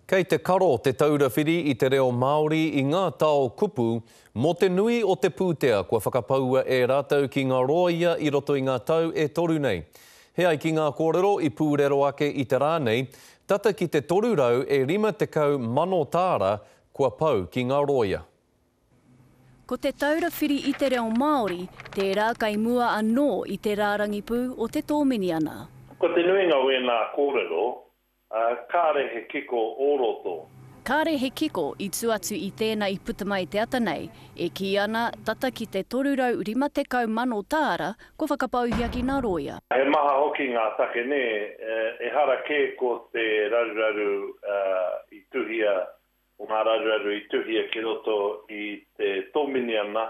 Kei te karo Te Taura Whiri i te Reo Māori i ngā tao kupu mō te nui o te pūtea kua whakapaua e rātou ki ngā rōia i roto i ngā tau e toru nei. He ai ki ngā kōrero i pūrero ake i te rā nei, tata ki te toru rau e rima tekau mano tāra kua pau ki ngā rōia. Ko Te Taura Whiri i te Reo Māori tērā kei mua anō i te rārangi pū o te Tōminiana. Ko te nuinga o ēnā kōrero, Ā, kāre he kiko o roto. Kāre he kiko i tū atu i tēnā i puta mai te ata nei, e kī ana, tata ki te 350,000 tāra, kua whakapauhia ki ngā rōia. He maha hoki ngā take nē, ehara kē ko te raruraru i tuhia Ko ngā raruraru i tuhia ki roto i te Tōminiana.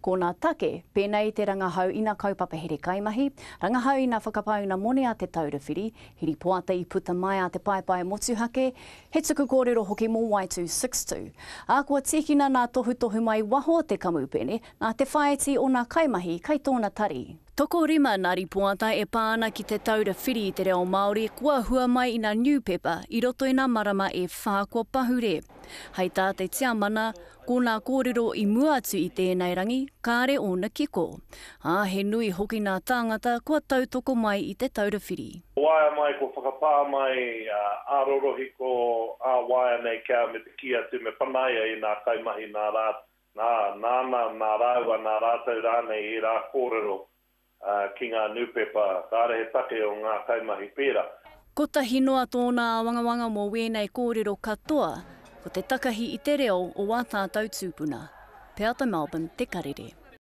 Ko ngā take, pēnei i te rangahau ina kaupapa here kaimahi, rangahau ina whakapau ina moni a Te Taura Whiri, hiripoata i puta mai a te paepae motuhake, he tuku kōrero hoki mō Y262. Ā, kua tīkina nā tohutohu mai waho o te kamupene, nā te whāiti o ngā kaimahi kai tōna tari. Tokorima nā ripoata e pā ana ki Te Taura Whiri i te Reo Māori kua hua mai ina New Pepper i roto i nā marama e whā kua pahure. Hai tā te tiamana, ko nā kōrero i mua atu i tēnei rangi, kāre ōna kiko. Ā, he nui hoki nā tāngata kua tautoko mai i Te Taura Whiri. Waea mai, kua whakapā mai ā rorohiko, ā waea nei kia me te kī atu me panaia i nā kaimahi nā rā Nā, nāna, nā rāua, nā rātou rānei ērā kōrero ki ngā nūpepa, kāre he take o ngā kaimahi pērā. Kotahi noa tōna āwangawanga mō wēnei kōrero katoa, ko te takahi i te reo o wā tātou tūpuna. Peata Melbourne, Te Karere.